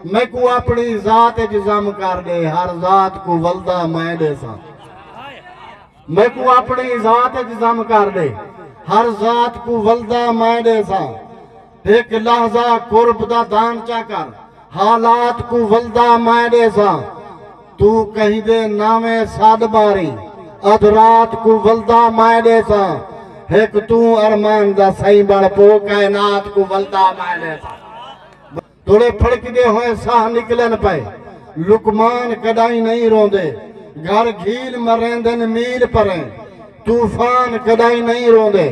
میکوں اپݨی ذات اچ ضم کر ݙے ہر ذات کوں ولدا میں ݙیساں میکوں اپݨی ذات اچ ضم کر ݙے ہر ذات کوں ولدا میں ݙیساں ہک لحظہ قرب دا دان چا کر حالات کوں ولدا میں ݙیساں تو کہیں دے ناویں سݙ ماری ادھ رات کوں ولدا میں ݙیساں ہک توں ارمان دا سئیں بݨ پو کائنات کوں ولدا میں ݙیساں تڑے پھڑکدے ہوئیں ساہ نکلن پئے۔ لقمان کݙاہیں نئیں روندے۔ گھر گھیل مریندن میل پریں۔ طوفان کݙاہیں نئیں روندے۔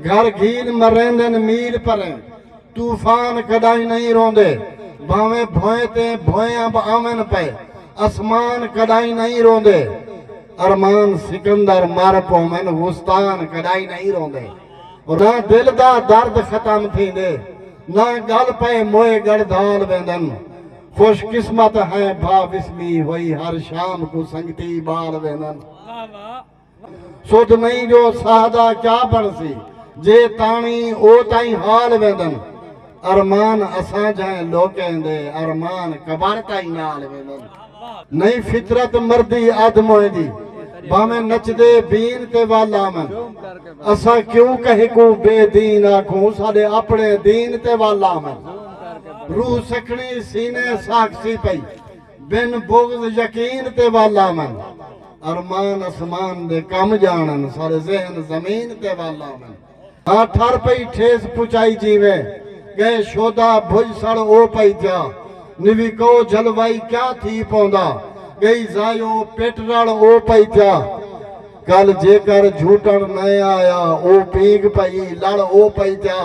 گھر گھیل مریندن میل پریں۔ طوفان کݙاہیں نئیں روندے۔ بھانویں بھوئیں تے بھوئیں امب آون پئے۔ اسمان کݙاہیں نئیں روندے۔ ارمان سکندر مر پوون غستان کݙاہیں نئیں روندے۔ نہ دل دا درد ختم تھیندے نہ گل پئے موئے گڑدھال ویندن خوش قسمت ہیں بھا وسمی وئی ہر شام کوں سنگتی بال ویندن سدھ نئیں جو ساہ دا کیا بنڑسی جے تاݨی او تئیں حال ویندن۔ ارمان اساں جھائیں لوکیں دے ارمان قبر تائیں نال ویندن نئیں فطرت مردی ادھ موئیں دی بھانویں نچدے بین تے ول آون اساں کیوں کہیں کوں بے دین آکھوں ساڈے اپنڑے دین تے ول آون روح سکھنڑی سینے ساکھسی پئی بن بغض یقین تے ول آون ارمان اسمان دے کم جانڑن ساڈے ذہن زمین تے ول آون۔ آتھر پئی ٹھیس پچائی جیویں گئے شودا بھج سڑ او پئی تیا نوی کئو جھل وائی کیا تھی پوندا گئی زائیو پٹ رڑ او پئی تیا کل جیکر جھوٹن نئیں آیا او پینگ پئی لڑ او پئی تیا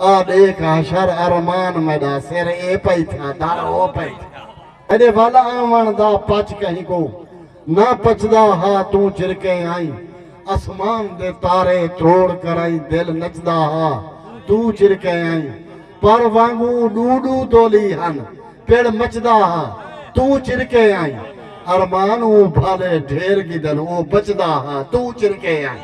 آ ڈیکھ حشر ارمان میڈا سر اے پئی تھیا در او پئی تھیا میڈے ول آون دا پچ کہیں کوں۔ نہ پچدا ہا توں چرکے آئیں۔ اسمان دے تارے تروڑ کرائیں دل نچدا ہا توں چرکے آئیں۔ پر وانگوں ڈو ڈو دولی ہن پڑ مچدا ہا توں چرکے آئیں۔ ارمان اوں بھالے ڈھیر گدن او بچدا ہا توں چرکے آئیں۔